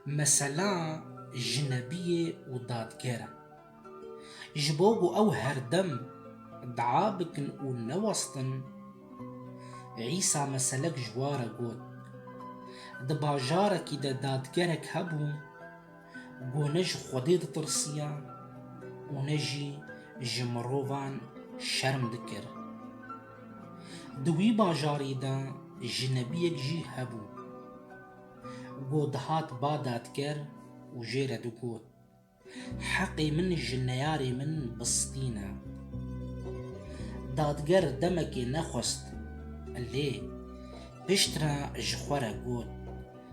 Mesela jinebiyê û dadger e. Ji bo ku ew herdem dua bikin û newestin, Îsa meselek ji wa re got. Di bajarekî de dadgerek hebû, Ku ne ji Xwedê ditirsiya û ne jî ji mirovan şerm dikir. Di wî bajarî de ji nebiyek jî hebû. Ku dihat ba dadger û jê re digot, Heqê min ji neyarê min bistîne. Dadger demekê nexwest lê piştre ji xwe re got,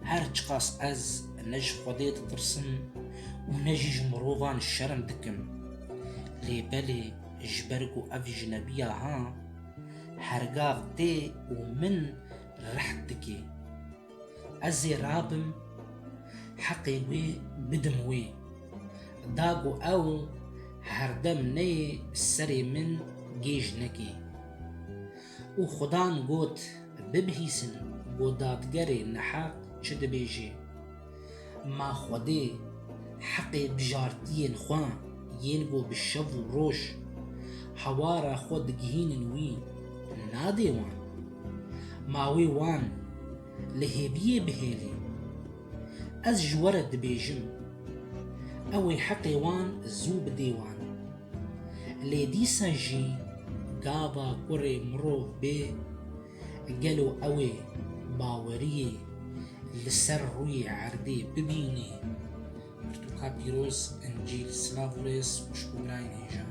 Her çiqas ez ne ji Xwedê ditirsim û ne jî ji mirovan şerm dikim, lê belê ji ber ku ev jinebiya ha, hergav tê û min reht dike. Ez ê rabim heqê wê bidim wê, da ku ew herdem neyê serê min gêj neke. Û Xudan got, Bibihîsin ku dadgerê neheq çi dibêje. Ma Xwedê heqê bijartiyên xwe yên ku bi şev û roj hewara xwe digihînin wî, nadê wan. Ma wê wan li hêviyê bihêlî. Ez ji we re dibêjim, ew ê heqê wan zû bidê wan. Lê dîsa jî gava kurê mirov bê, gelo ew ê baweriyê li ser rûyê erdê bibînê? Pirtûka pîroz Encîl silav û rêz xweşik û birayên hêjan.